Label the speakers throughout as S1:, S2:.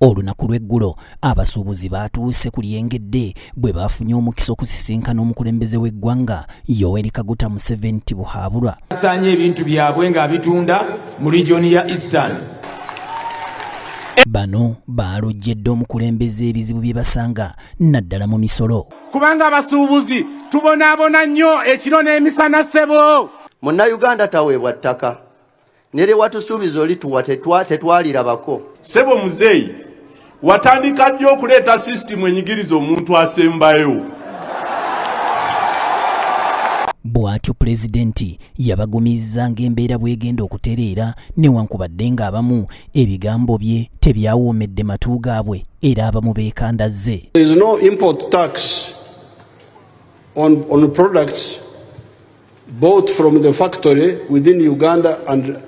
S1: Olunaku lw'eggulo abasuubuzi baatuuse ku lyengedde bwe baafunye omukisa okusisinkana omukulembeze w'eggwanga Yoweri Kaguta Museveni Tibuhaabulwa asaanye ebintu
S2: byabwe ng'abitunda mu regioni ya Eastern.
S1: Bano baalojjedde omukulembeze ebizibu bye basanga naddala mu misolo. Kubanga abasuubuzi
S3: tubonaabona nnyo ekiro n'emisana ssebo. Munnayuganda
S4: taweebwa ttaka. nere watusuubiza oli tuwa tetwalirabako sebo muzeeyi
S5: watandika ddi okuleeta sisitimu enyigiriza omuntu asembayo
S1: bw'atyo pulezidenti yabagumizza ng'embeera bw'egenda okutereera newankubadde ng'abamu ebigambo bye tebyawoomedde matu gaabwe era abamu beekandazze on,
S6: on products bought from the factory within Uganda and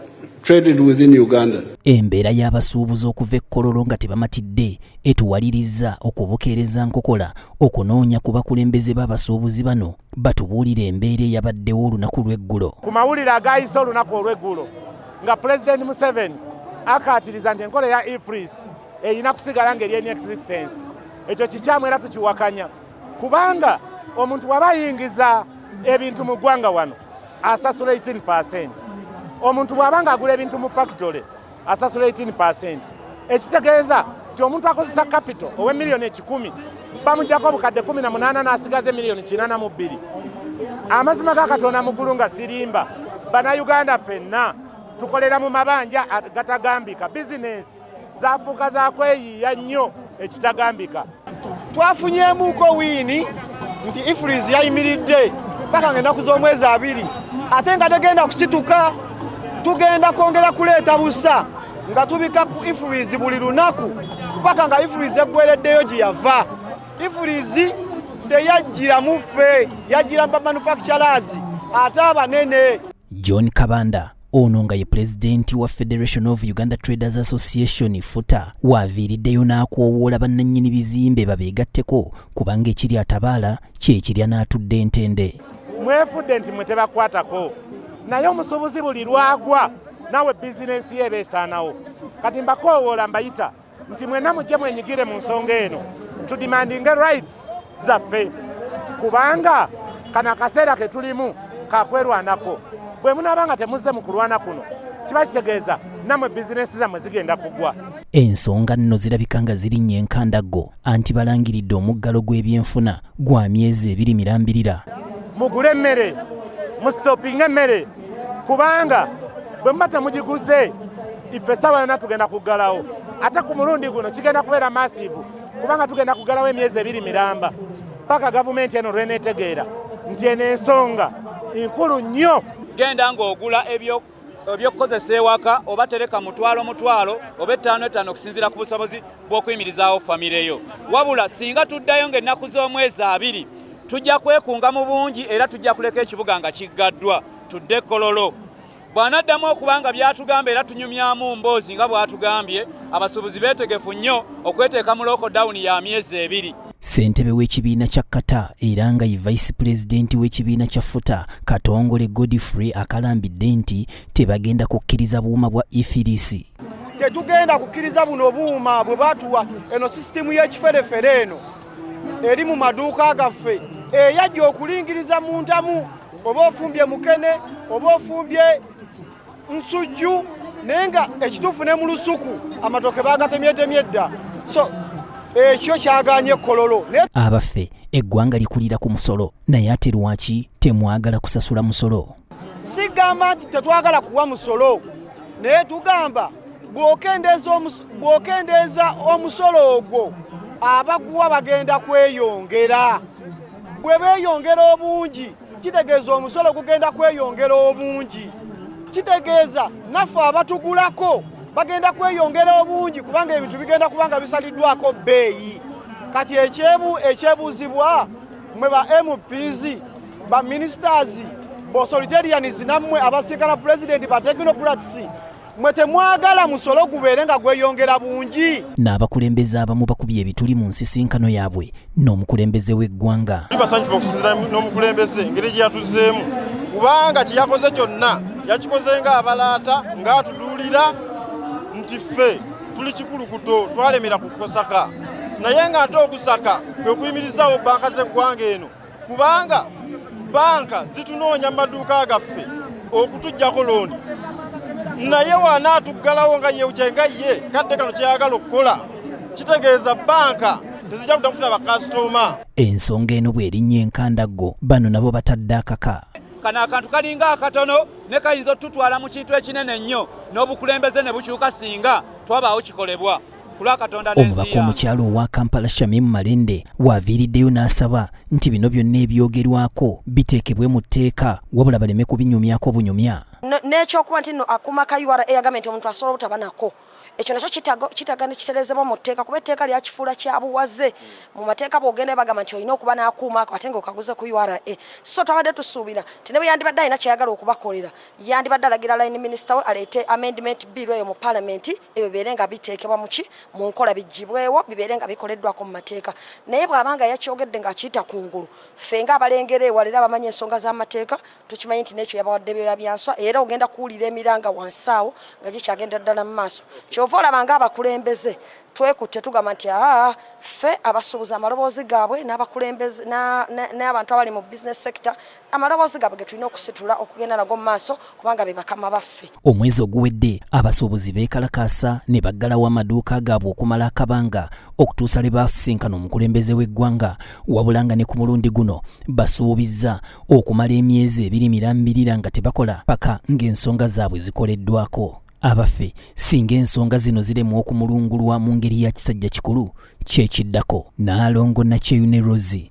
S6: traded within Uganda. Embeera
S1: y'abasuubuzi okuva e Kololo nga tebamatidde etuwalirizza okubukeereza nkokola okunoonya ku bakulembeze b'abasuubuzi bano batubuulira embeera eyabaddewo olunaku lw'eggulo. Ku mawulire agaayise
S3: olunaku olw'eggulo nga Pulezidenti Museveni akaatiriza nti enkola ya EFRIS erina kusigala ng'eri in existence. Ekyo kikyamu era tukiwakanya. kubanga omuntu waba ayingiza ebintu mu ggwanga wano asasula 18 percent omuntu bw'aba nga agula ebintu mu factory asasula 18 percent ekitegeeza nti omuntu akozesa kapito owe miliyoni ekikumi bamugyako obukadde 18 n'asigaza emiliyoni 82 amazima ga katonda mugulu nga sirimba banayuganda fenna tukolera mu mabanja gatagambika bizinesi zafuuka za kweyiiya nnyo ekitagambika. Twafunyemuuko
S7: wiini nti Ifurizi yayimiridde paka nga ennaku z'omwezi abiri ate nga tegenda kusituka. Tugenda kwongera kuleeta busa nga tubika ku Ifurizi buli lunaku paka nga Ifurizi eggwereddeyo gye yava. Ifurizi teyajjira muffe, yajjira mu bamanufakitalazi ate abanene. John Kabanda
S1: ono nga ye pulezidenti wa Federation of Uganda Traders Association futa waaviiriddeyo n'akoowoola bannannyini bizimbe babeegatteko kubanga ekiri atabaala kyekirya n'atudde entende mwefudde nti
S3: mwe tebakwatako naye omusuubuzi buli lwagwa nawe bizinensi ye ebeesaanawo kati mbakoowoola mbayita nti mwena mujje mwenyigire mu nsonga eno tudimandinge rights zaffe kubanga kano akaseera ke tulimu kakwerwanako bwe munaaba nga temuzze mu kulwana kuno kiba kitegeeza namwe bizinensi zammwe zigenda kugwa ensonga nno
S1: zirabika nga zirinnya enkandaggo anti balangiridde omuggalo gw'ebyenfuna gwa myezi ebiri mirambirira mugule emmere
S3: musitopinga emmere kubanga bwe muba temugiguze ife esaawa yona tugenda kuggalawo ate ku mulundi guno kigenda kubeera maasiivu kubanga tugenda kuggalawo emyezi ebiri miramba paka gavumenti eno lweneetegeera nti eno ensonga nkulu nnyo genda ng'ogula
S8: ebyoku ebyokukozesa ewaka oba tereka mutwalo mutwalo oba ettaano ettaano okusinziira ku busobozi bw'okuyimirizaawo famireyo wabula singa tuddayo ng'ennaku z'omwezi abiri Tujja kwekunga mu bungi era tujja kuleka ekibuga nga kiggaddwa tudde Kololo. Bw'anaddamu okuba nga by'atugamba era tunyumyamu mboozi nga bw'atugambye, abasuubuzi beetegefu nnyo okweteeka mu lookodawuni ya myezi ebiri. Ssentebe w'ekibiina
S1: kya Qatar era nga ye vice pulezidenti w'ekibiina kya Futa Katongole Godfrey akalambidde nti tebagenda kukkiriza buuma bwa ifirisi. Tetugenda
S7: kukkiriza buno buuma bwe batuwa eno sisitimu y'ekiferefere eno. eri mu maduuka gaffe eyajja okulingiriza mu ntamu oba ofumbye mukene oba ofumbye nsujju naye nga ekituufu ne mu lusuku amatoke bagatemyetemye dda so ekyo kyaganye kololo abaffe
S1: eggwanga likulira ku musolo naye ate lwaki temwagala kusasula musolo Sigamba
S7: nti tetwagala kuwa musolo naye tugamba bw'okendeeza omusolo ogwo abaguwa bagenda kweyongera bwe beeyongera obungi kitegeeza omusolo gugenda kweyongera obungi kitegeeza naffe abatugulako bagenda kweyongera obungi kubanga ebintu bigenda kuba nga bisaliddwako bbeeyi kati ekyebuuzibwa mwe ba mps ba ministers bo authoritarians namwe abasikala president ba technocrats mwe temwagala musolo gubeere nga gweyongera bungi n'abakulembeze abamu
S1: bakubye ebituli mu nsisinkano yaabwe n'omukulembeze w'eggwanga basanyufu okusinzira
S9: n'omukulembeze engeri gye yatuzeemu kubanga kyeyakoze kyonna yakikoze ng'abalaata ng'atuduulira nti ffe tuli kikulukuto twalemera ku kusaka naye ng'ate okusaka kwe kuyimirizaawo banka z'eggwanga eno kubanga banka zitunoonya mu maduuka gaffe okutujjako looni naye wanaatuggalawo nga yekyenga ye kadde kano kyeyagala okukola kitegeeza banka tezijja kutamufuna bakasitoma ensonga eno
S1: bw'erinnya enkandaggo bano nabo batadde akaka kano akantu
S8: kalinga akatono ne kayinza otutwala mu kintu ekinene ennyo n'obukulembeze ne bukyuka singa twabaawo kikolebwa omubaka
S1: omukyalo owa kampala shamim malende waaviiriddeyo n'asaba nti bino byonna ebyogerwako biteekebwe mu tteeka wabula baleme kubinyumyako bunyumya n'ekyokuba nti
S10: no akuma ka ura eyagambye nti omuntu asobola obutaba nako ekyo nakyo kitaga nekiterezebwa mu tteeka kuba etteeka lyakifuula kyabuwaze mu mateeka bwogenda bagamba nti olina okuba n'akuuma ako ate nga okaguze ku ura so twabadde tusuubira nti ne bwe yandibadde alina kyeyagala okubakolera yandibadde alagira line minisita we aleete amendment bill eyo mu palamenti ebyo bibeere nga biteekebwa muki mu nkola bigibwewo bibeere nga bikoleddwako mu mateeka naye bw'aba nga yakyogedde ng'akiyita ku ngulu ffe nga abalengera ewala era abamanyi ensonga z'amateeka tukimanyi nti n'ekyo yabawadde byoya byanswa era ogenda kuwulira emiranga wansi awo nga gikyagendera ddala mu maaso kyova olaba nga abakulembeze twekutte tugamba nti aa ffe abasuubuza amaloboozi gaabwe n'abakulembeze n'abantu abali mu business sector amaloboozi gaabwe ge tulina okusitula okugenda nago mu maaso kubanga be bakama baffe omwezi oguwedde
S1: abasuubuzi beekalakaasa ne baggalawo amaduuka gaabwe okumala akabanga okutuusa lwe baasisinkana omukulembeze w'eggwanga wabula nga ne ku mulundi guno basuubizza okumala emyezi ebiri mirambirira nga tebakola paka ng'ensonga zaabwe zikoleddwako abaffe singa ensonga zino ziremwa okumulungulwa mu ngeri ya kisajja kikulu kyekiddako naalongo nakyeyune rosi